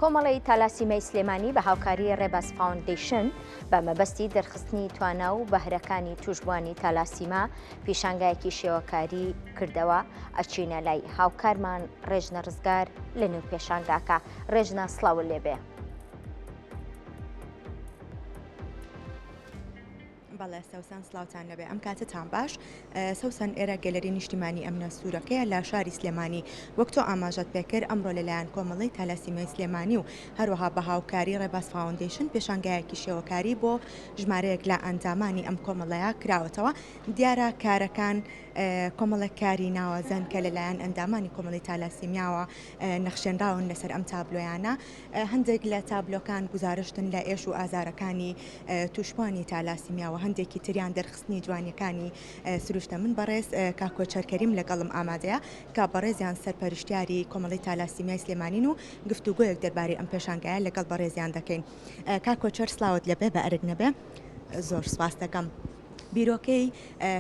کۆمەڵەی تالاسیمای سلێمانی بە هاوکاری ڕێباز فاوندەیشن بە مەبەستی دەرخستنی توانا و بەهرەکانی توشبوانی تالاسیما پیشانگایەکی شێوەکاری کردەوە ئەچینە لای هاوکارمان ڕێژنە ڕزگار لە نێو پێشانگاکە ڕێژنە سڵاو لێبێ. بەڵێ سەوسەن سڵاوتان نەبێ ئەم کاتتان باش سەوسەن ئێرە گەلەری نیشتیمانی ئەمنە سوورەکەیە لە شاری سلێمانی وەک تۆ ئاماژەت پێکرد ئەمڕۆ لەلایەن کۆمەڵی تالاسیمیای سلێمانی و هەروەها بە هاوکاری ڕێباز فاوندیشن پێشانگایەکی شێوەکاری بۆ ژمارەیەک لە ئەندامانی ئەم کۆمەڵەیە کراوەتەوە دیارە کارەکان کۆمەڵێک کاری ناوازەن کە لەلایەن ئەندامانی کۆمەڵی تالاسیمیاوە نەخشێنراون لەسەر ئەم تابلۆیانە هەندێک لە تابلۆکان گوزارشتن لە ئێش و ئازارەکانی تووشبوانی تالاسیمیا و هەندێکی تریان دەرخستنی جوانیەکانی سروشتە من بەڕێز کاک کۆچەر کەریم لەگەڵم ئامادەیە کە بەڕێزیان سەرپەرشتیاری کۆمەڵی تالاسیمیای سلێمانین و گفتوگۆیەک دەربارەی ئەم پێشانگایە لەگەڵ بەڕێزیان دەکەین کاک کۆچەر سلاوت لەبێ بە ئەرک نەبێ زۆر سپاس دەکەم. بیرۆکەی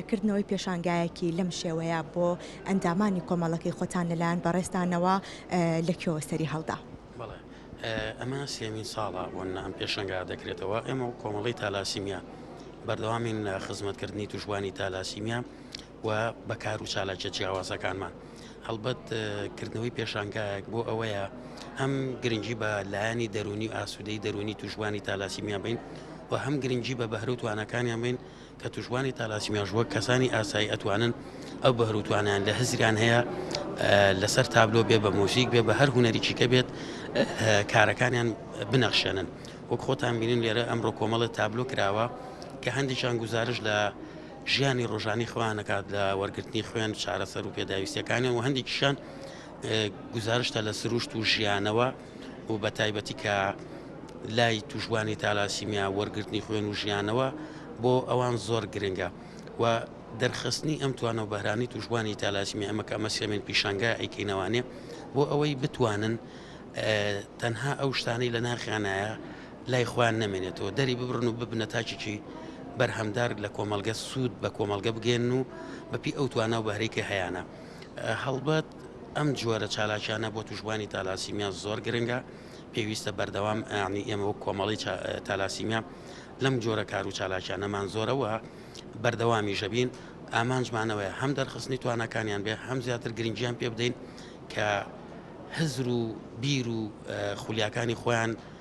کردنەوەی پێشانگایەکی لەم شێوەیە بۆ ئەندامانی کۆمەڵەکەی خۆتان لەلایەن بەڕێزتانەوە لە کوێوە سەری هەڵدا؟ بەڵێ ئەمە سێمین ساڵە بۆ نام پێشەنگا دەکرێتەوە ئێمە و کۆمەڵی تالاسیمیا بەردەوامین لە خزمەتکردنی توشبووانی تالاسیمیا و بە کار و چالاکیە جیاوازەکانمان هەڵبەت کردنەوەی پێشانگایەک بۆ ئەوەیە هەم گرنگی بە لایەنی دەرونی و ئاسوودەی دەرونی توشبانی تالاسیمیان بین و هەم گرنگی بە بەهرو توانەکانیان بین کە توشبانی تالاسیمیاش وەک کەسانی ئاسایی ئەتوانن ئەو بەهروتوانیان لە هزریان هەیە لەسەر تابلۆ بێ بە مۆزیک بێ بە هەر هوەریکی کە بێت کارەکانیان بنەخشێنن وەک خۆتان بینین لێرە ئەمڕۆ کۆمەڵە تابلۆ کراوە کە هەندێکیان گزارش لە ژیانی ڕۆژانەی خۆیان ئەکات لە وەرگرتنی خوێن و چارەسەر و پێداویستیەکانیان و هەندێکیشان گزارشتە لە سروشت و ژیانەوە و بە تایبەتی کە لای توشبانی تالاسیمیا وەرگرتنی خوێن و ژیانەوە بۆ ئەوان زۆر گرنگە و دەرخستنی ئەم توانە و بەرانی توشبانی تالاسیمی ئەمە کە ئەمە سێمێن پیشانگە ئەیکەینەوانێ بۆ ئەوەی بتوانن تەنها ئەو شتانەی لە ناخیانایە لای خۆیان نەمێنێتەوە دەری ببڕن و ببنە تاکێکی بەرهەمدار لە کۆمەڵگە سوود بە کۆمەڵگە بگەێن و بەپی ئەو توانا و بەهرێکی هەیەە هەڵبەت ئەم جۆرە چالاکیانە بۆ توشببووانی تالاسیمیا زۆر گرنگە پێویستە بەردەوام ئەنی ئێمە وەک کۆمەڵی تالاسیمیا لەم جۆرە کار و چالاکیانەمان زۆرەوە بەردەوامی ژەبین ئامانجمانەوەی هەم دەرخستنی توانەکانیان بێ هەم زیاتر گرنگیان پێ بدەین کە هزر و بیر و خولیاکانی خۆیان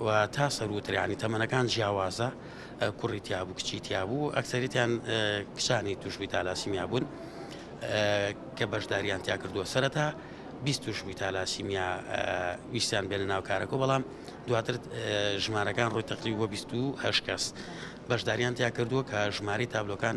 و تا سەرووتر یانی تەمەنەکان جیاوازە کوڕی تیابوو کچی تیابوو ئەکسەریتیان کچانی توشبووی تالاسیمیا بوون کە بەشداریان تیا کردووە سەرەتا بیست توشبووی تالاسیمیا ویستیان بێنە ناو کارەکە بەڵام دواتر ژمارەکان ڕووی تەقریب بۆ 28 کەس بەشداریان تیا کردووە کە ژماری تابلۆکان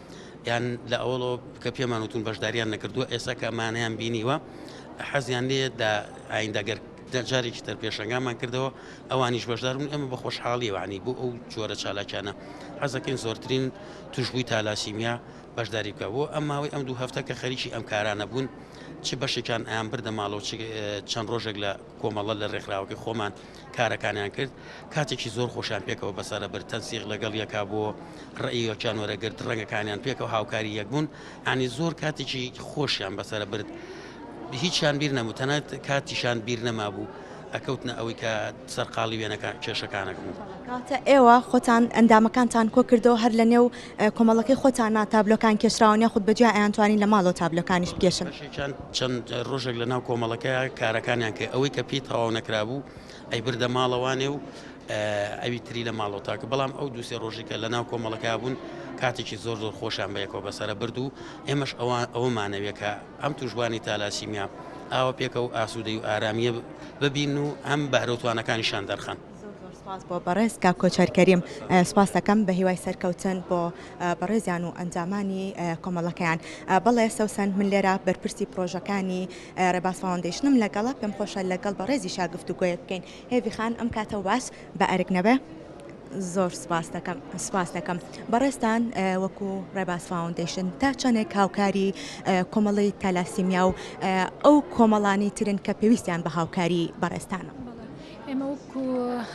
یان لە ئەوڵۆ کە پێمان وتون بەشداریان نەکردووە ئێستا کە ئەمانیان بینیوە حەزیان لێ دا ئایندەگەر جارێکی تر پێشنگامان کردەوە ئەوانیش بەشدارون ئەمە بە خۆشحاڵیوانی بۆ ئەو جۆرە چالاکیانە حەزەکەین زۆرترین توشببووی تالاسیمیا بەشداری بکە بۆ ئەم ماوەی ئەم دوو هەفتە کە خەریکی ئەم کارانە بوون چ بەشێکان ئەیان بردە ماڵەوە چەند ڕۆژێک لە کۆمەڵە لە ڕێکخراوەکە خۆمان کارەکانیان کرد کاتێکی زۆر خۆشیان پێکەوە بەسەرە بر تەنسیق لەگەڵ یەکا بۆ ڕئیەکیان وەرەگرت ڕەنگەکانیان پێکەوە هاوکاری یەک بوون ئەنی زۆر کاتێکی خۆشیان بەسەرە برد هیچیان بیر نەبوو تەنات کاتیشان بیر نەما بوو ئەکەوتنە ئەوەی کە سەرقاڵی وێنەکان کێشەکانەکە بوو کاتە ئێوە خۆتان ئەندامەکانتان کۆ کردەوە هەر لە نێو کۆمەڵەکەی خۆتانە تابلۆکان کێشراون یاخود بە جیا ئەیانتوانین لە ماڵەوە تابلۆکانیش بکێشن؟ بەشێکیان چەند ڕۆژێک لە ناو کۆمەڵەکەیە کارەکانیان کرد ئەوەی کە پێی تەواو نەکرابوو ئەیبردە ماڵەوانێ و ئەوی تری لە ماڵەوە تاکە بەڵام ئەو دووسێ ڕۆژی کە لە ناو کۆمەڵەکە بوون کاتێکی زۆر زۆر خۆشیان بەیەکەوە بەسرە برد و ئێمەش ئەوان ئەومانەوێت کە ئەم توشبوانی تالاسیمیا ئاوە پێکە و ئاسوودەی و ئارامیە ببین و ئەم بەرەوتوانەکانیشان دەرخەن. زۆر زۆر سوپاس بۆ بەڕێز کاک کۆچەر کەریم سوپاس دەکەم بە هیوای سەرکەوتن بۆ بەڕێزیان و ئەنجامانی کۆمەڵەکەیان بەڵێ سەوسەن من لێرە بەرپرسی پرۆژەکانی ڕێباز فاوندیشنم لەگەڵە پێم خۆشە لەگەڵ بەڕێزی شاگفت و گوۆیە بکەین هێوی خان ئەم کاتەوە باس بە ئەرک نەبێ زۆر سپاس دەکەم سپاس دەکەم بەڕێستان وەکو ڕێباس فاونندیشن تا چەندێک هاوکاری کۆمەڵی تەلاسیمیا و ئەو کۆمەڵانی ترن کە پێویستیان بە هاوکاری بەڕێستانە. ئێمە وەکو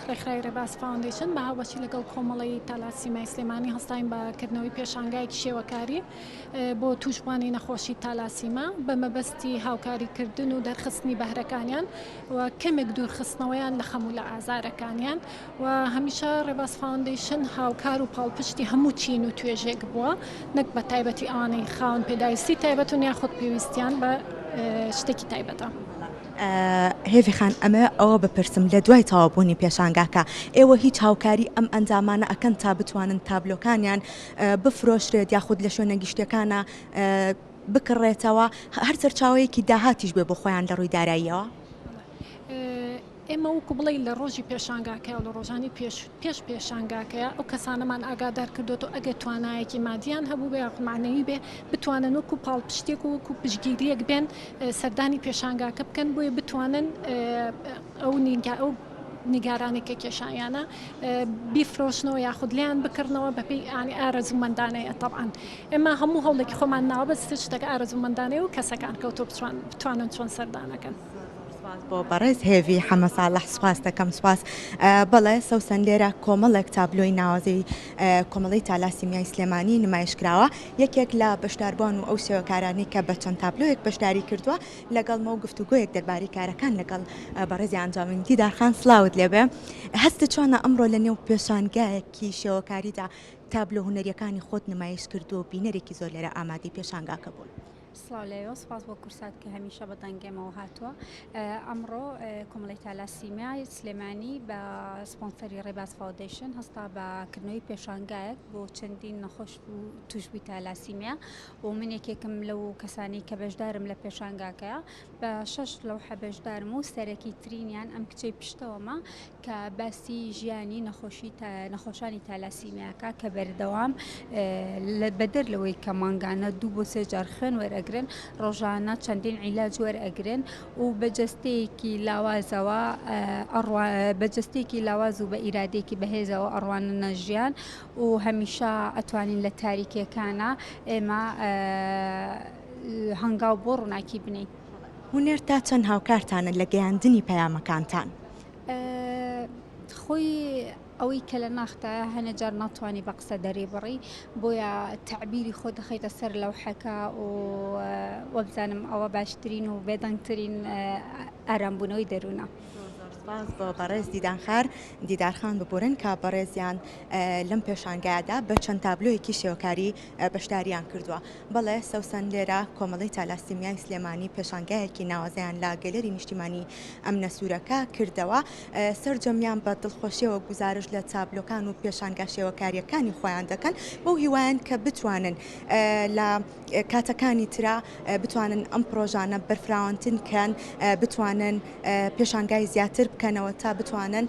ڕێکخراوی ڕێباز فاوندەیشن بە هاوبەشی لەگەڵ کۆمەڵەی تالاسیمای سلێمانی هەستاین بە کردنەوەی پێشانگایەکی شێوەکاری بۆ تووشبوانی نەخۆشی تالاسیما بە مەبەستی هاوکاریکردن و دەرخستنی بەهرەکانیان و کەمێک دوورخستنەوەیان لە خەموو لە ئازارەکانیان و هەمیشە ڕێباز فاوندەیشن هاوکار و پاڵپشتی هەموو چین و توێژێک بووە نەک بە تایبەتی ئەوانەی خاون پێداویستی تایبەتون یاخود پێویستیان بە شتێکی تایبەتە. هێڤی خان ئەمە ئەوە بپرسم لە دوای تەواو بوونی پێشانگاکە ئێوە هیچ هاوکاری ئەم ئەندامانە ئەکەن تا بتوانن تابلۆکانیان بفرۆشرێت یاخود لە شوێنە گشتیەکانە بکڕێتەوە هەر سەرچاوەیەکی داهاتیش بێ بۆ خۆیان لە ڕووی داراییەوە؟ ئێمە وکو بڵێ لە ڕۆژی پێشانگاکە و لە ڕۆژانی پێش پێش پێشانگاکەیە ئەو کەسانەمان ئاگادار کردووەتەوە ئەگەر توانایەکی مادییان هەبووبێ یاخود مەعنەوی بێ بتوانن وەکوو پاڵپشتێک و وەکوو پشتگیرییەک بێن سەردانی پێشانگاکە بکەن بۆیە بتوانن ئەو نیگا ئەو نیگارانەی کە کێشانیانە بیفرۆشنەوە یاخود لێیان بکڕنەوە بەپێی ئانی ئارەزوومەندانەیە تەبعەن ئێمە هەموو هەوڵێکی خۆمان ناوە بەس شتەکە ئارەزوومەندانەیە و کەسەکان کەوتۆ بتوان بتوانن چۆن سەردانەکەن. سوپاس بۆ بەڕێز هێڤی حەمە ساڵح سوپاس دەکەم سوپاس بەڵێ سەوسەن لێرە کۆمەڵێک تابلۆی ناوازەی کۆمەڵی تالاسیمیای سلێمانی نمایش کراوە یەکێک لە بەشداربووان و ئەو شێوەکارانی کە بە چەند تابلۆیەک بەشداری کردووە لەگەڵمە و گفتوگویەک دەرباری کارەکان لەگەڵ بەڕێزی ئەنجامین دیدارخان سلااوت لێبێ هەستە چۆنە ئەمڕۆ لە نێو پێشانگایەکی شێوەکاریدا تابلۆ هوەریەکانی خۆت نمایش کردو و بینەرێکی زۆر لێرە ئامادەی پێشانگاکە بوون. سڵاو لە ئێوە سوپاس بۆ کورسات کە هەمیشە بە دەنگ ئێمەوە هاتووە ئەمڕۆ کۆمەڵی تالاسیمیای سلێمانی بە سپۆنسەری ڕێباز فاودەیشن هەستا بە کردنەوەی پێشانگایەک بۆ چەندین نەخۆش و توشبووی تالاسیمیا و من یەکێکم لەو کەسانی کە بەشدارم لە پێشانگاکەیە بە شەش لەوحە بەشدارم و سەرەکی ترینیان ئەم کچەی پشتەوەمە کە باسی ژیانی نەخۆشی نەخۆشانی تالاسیمیاکە کە بەردەوام لە بەدەر لەوەی کە مانگانە دوو بۆ سێ جار خوێن وەرەگرن ڕۆژانە چەندین عیلاج وەرەگرن و بە جستەیەکی لاوازەوە بە جستێکی لاواز و بە ئیرادێکی بەهێزەوە ئەڕوانە نەژیان و هەمیشە ئەتوانین لە تاریکەکانە ئێمە هەنگاو بۆ ڕووناکی بنێین. هونەر تا چەند هاوکارتانە لە گەیاندنی پەیامەکانتان؟ خۆی ئەوەی کە لە ناختایە هەنێ جار ناتوانانی بە قسە دەریبڕی بۆیە تەعبیری خۆ دەخیتە سەر لەوحەکە و وەبزانم ئەوە باشترین و بێدەنگترین ئارامبوونەوەی دەروونە. سپاس بۆ بەڕێز دیدان خار دیدارخان ببورن کە بەڕێزیان لەم پێشانگایەدا بە چەند تابلۆیەکی شێوەکاری بەشداریان کردووە. بەڵێ سوسەن لێرە کۆمەڵەی تالاسیمیای سلێمانی پێشانگایەکی ناوازەیان لە گەلەری نیشتیمانی ئەمنە سوورەکە کردەوە سەرجەمیان بە دڵخۆشیەوە گوزارش لە تابلۆکان و پێشانگا شێوەکاریەکانی خۆیان دەکەن بەو هیوایان کە بتوانن لە کاتەکانی ترا بتوانن ئەم پرۆژانە بەرفراوانتن کەن بتوانن پێشانگای زیاتر بکەنەوە تا بتوانن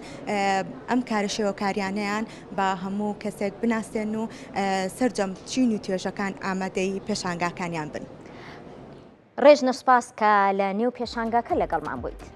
ئەم کارە شێوەکاریانیان با هەموو کەسێک بناسێن و سەرجەم چین و توێژەکان ئامادەی پێشانگاکانیان بن. ڕێژنە سپاس کە لە نێو پێشانگاکە لەگەڵمان بوویت.